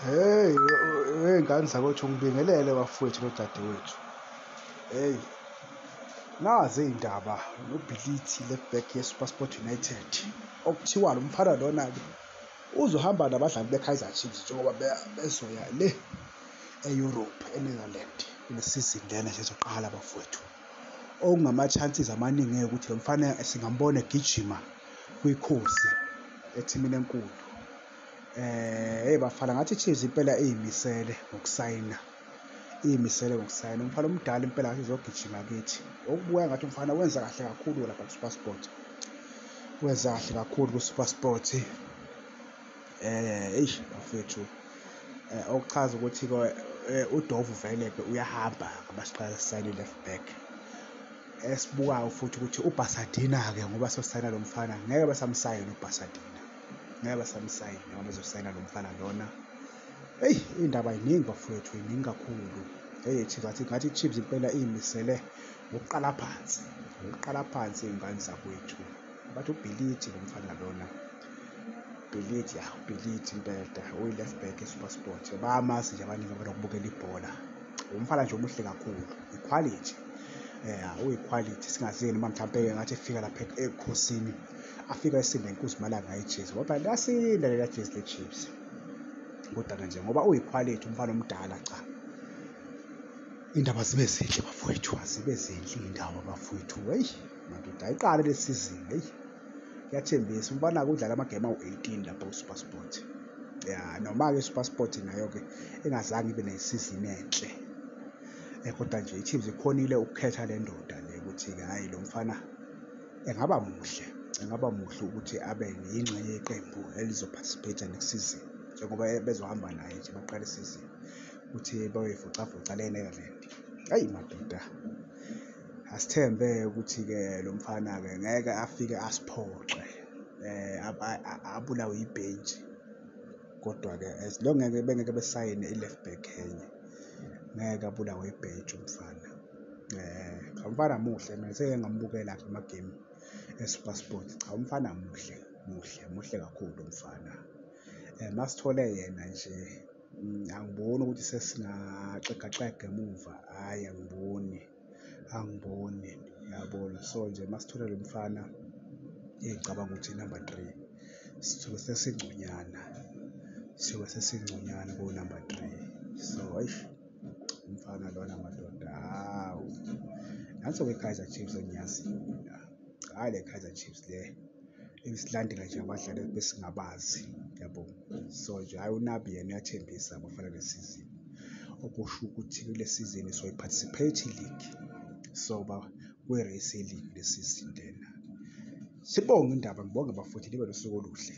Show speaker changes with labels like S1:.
S1: Hey, hey ngane zakwethu ngibingelele bafowethu nodadewethu. Hey. Nazi indaba noBhilithi left back yeSuperSport United. Okuthiwa lo mfana lona ke uzohamba nabadlali beKaizer Chiefs njengoba bezoya le e-Europe eNetherland kule season lena nje ezoqala bafowethu. Okungama-chances amaningi ukuthi lo mfana singambona egijima kwikhosi ethimini enkulu. Eh hey bafana ngathi iChiefs impela iyimisele ngokusayina. Iyimisele ngokusayina. Umfana omdala impela ngathi izogijima kithi. Okubuya ngathi umfana wenza kahle kakhulu lapha kuSuperSport. Wenza kahle kakhulu kuSuperSport. Eh eish bafethu. Eh okuchaza ukuthi ke eh, uDovu vele ke uyahamba ngabasiqala sayini left back. Esibukayo futhi ukuthi uBasadina ke ngoba sosayina lo mfana ngeke basamsayina uBasadina. ngeke basamsayina ngoba bezosayina lo mfana lona eyi indaba yiningi bafowethu yiningi kakhulu eyi chiefs athi ngathi chiefs impela iyimisele ngokuqala phansi ngokuqala phansi iy'ngane zakwethu bathi ubhilithi lo mfana lona ubhilithi ya ubhilithi impela uyi-left back esupersport bayamazi nje abaningi abanokubukela ibhola umfana nje omuhle kakhulu ikhwalithi um uyikhwalithi singazeni uma mhlawumpe-ke ngathi efika lapha ebukhosini afika esinda inkunzi malanga ejezi ngoba lasinda lela jezi lechiefs kodwa-ke nje ngoba uyikhwalithi umfana omdala cha indaba zibe zinhle bafowethu azibe zinhle iy'ndaba bafowethu eyi madoda ayiqale le sizini eyi kuyathembisa umfana-ke udlala amagemu awu-eighteen lapha usupersport ya noma-ke usupersport nayo-ke engazange ibe nesizini enhle um kodwa nje i-teams ikhonile ukukhetha le ndoda le ukuthi-ke hhayi lo mfana Engaba muhle, engaba muhle ukuthi abe yingxenye yeqembu elizoparticipate next season njengoba bezohamba naye nje baqale isizini ukuthi bayoyivocavoca le Netherland. Ayi madoda, asithembe ukuthi-ke lo mfana-ke ngeke afike asiphoxe um abulawe yibhentshi kodwa-ke as long ngeke bengeke besayine i-left back enye ngeke abulawe ibhentshi umfana. cha umfana muhle mina seke ngambukela ke amagemu eSuperSport cha umfana muhle muhle muhle kakhulu umfana um masithole yena nje mm, angiboni ukuthi sesingaxegaxega emuva hhayi angiboni angiboni yabona so nje masithole lo mfana engicabanga ukuthi number three sisuke sesingconyana siyobe sesingconyana ko-number three so eish umfana lona madoda hawu nanso kwe-kaizer chiefs engiyaziyo mina hhayi le kaizer chiefs le isilandela nje abadlali besingabazi yabo so nje hhayi unabi yena uyathembisa abafana le sizini okusho ukuthi kule sizini soyi-participate league so ba kwi-race league le sizini lena sibonge indaba ngibonge bafuthi libe nosuku oluhle